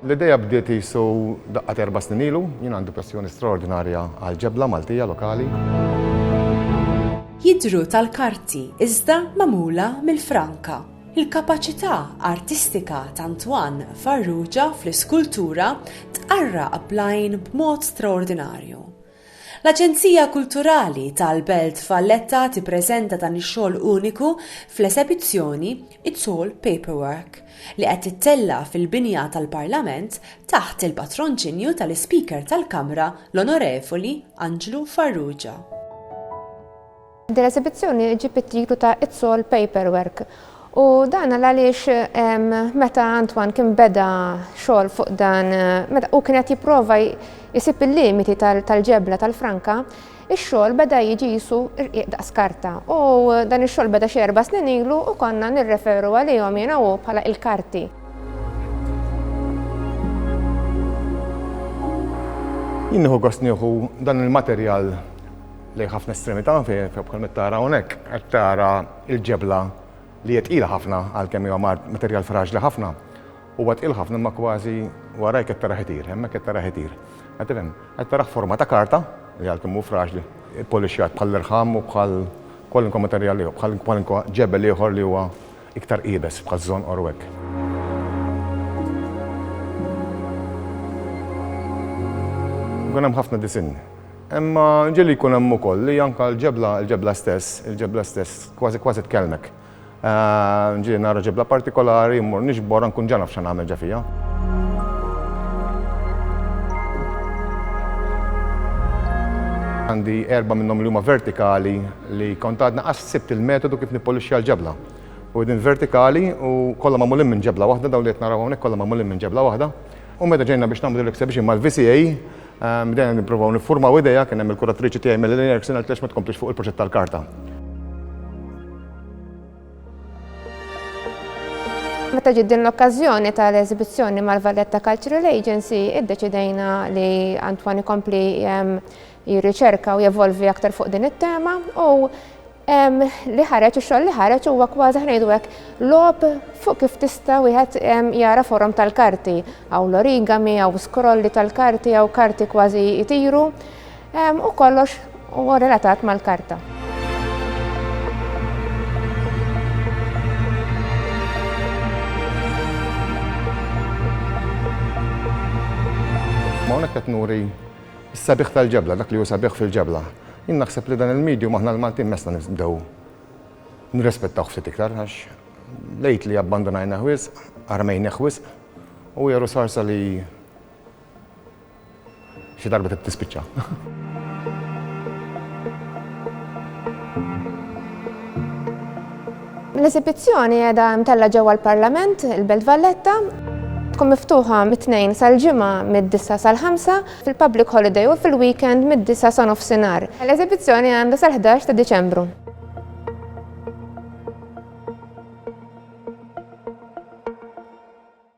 L-ideja bdiet jisu daqqat erba snin ilu, jien għandi passjoni straordinarja għal ġebla Maltija lokali. Jidru tal-karti iżda magħmula mill-franka. Il-kapaċità artistika t'Antoine Farrugia fl-iskultura tqarraq bl-għajn b'mod straordinarju. L-Aġenzija Kulturali tal-Belt Valletta tippreżenta dan ix-xogħol uniku fl-esebizzjoni It's All Paperwork, li qed tittella' fil-binja tal-Parlament taħt il-patronċinju tal-Ispeaker tal-Kamra l-Onorevoli Anġlu Farrugia. Din l-esibizzjoni ġġib it-titlu ta' It's All Paperwork u dan għal għaliex meta Antoine kien beda xogħol fuq dan, meta hu kien qed jipprova jsib il-limiti tal-ġebla tal-franka, ix-xogħol beda jiġi qisu rqiq daqs karta u dan ix-xogħol beda xi erba' snin ilu u konna nirreferu għalihom jiena u hu bħala il-karti. Jien nieħu gost nieħu dan il-materjal lejn ħafna estremità fejn bħal qed tara hawnhekk qed tara l-ġebla li hija tqila ħafna għalkemm hija mart materjal fraġli ħafna. Huwa tqil ħafna imma kważi warajk qed tara ħitir, hemmhekk qed tara ħitir. Qed tifhem? Qed tara forma ta' karta li għalkemm hu fraġli, polixjat bħall-irħam u bħal kwalunkwe materjal ieħor, bħal kwalunkwe ġebel ieħor li huwa Iktar iebes bħal żonqor u hekk. Ikun hemm ħafna disinn. Imma nġieli jkun hemm ukoll li anke l-ġebla, il-ġebla stess, il-ġebla stess kważi kważi tkellmek. Nġieli nara ġebla partikolari, mmur niġborha nkun ġa naf x'għan nagħmel ġa fiha. Għandi erba' minnhom li huma vertikali li kont għadni Sibt il-metodu kif nippolixxja l-ġebla. Widien vertikali u kollha magħmulin minn ġebla waħda, dawn li qed naraw hawnhekk kollha magħmulin minn ġebla waħda. U meta ġejna biex nagħmlu l-exhibition mal-VCA, bdejna nippruvaw niffurmaw idea, kien hemm il-kuratriċi tiegħi Melanie Erickson qaltli għax ma tkomplix fuq il-proġett tal-karta. Meta ġiet din l-okkażjoni tal-eżibizzjoni mal-Valletta Cultural Agency, iddeċidejna li Antwan ikompli jirriċerka u jevolvi aktar fuq din it-tema u li ħareġ ix-xogħol li ħareġ huwa kważi ħnejdu hekk lob fuq kif tista' wieħed jara forom tal-karti hawn l-origami, hawn skrolli tal-karti, hawn karti kważi jtiru u kollox huwa relatat mal-karta. Hawnhekk qed nuri Is-sabiħ tal-ġebla, dak li hu sabiħ fil-ġebla. Jien naħseb li dan il-medium aħna l-Maltin messna nibdew nirrispettawh ftit iktar għax lately abbandunajnah wisq, armejnieh wisq u hija rusorsa li xi darba trid tispiċċa. L-esibizzjoni qiegħda mtella' ġewwa l-Parlament, il-Belt Valletta. Tkun miftuħa mit-Tnejn sal-Ġimgħa mid-disgħa sal-ħamsa, fil-public holiday u fil-weekend mid-disgħa sa nofsinhar. L-esibizzjoni għandha sal-ħdax ta' Diċembru.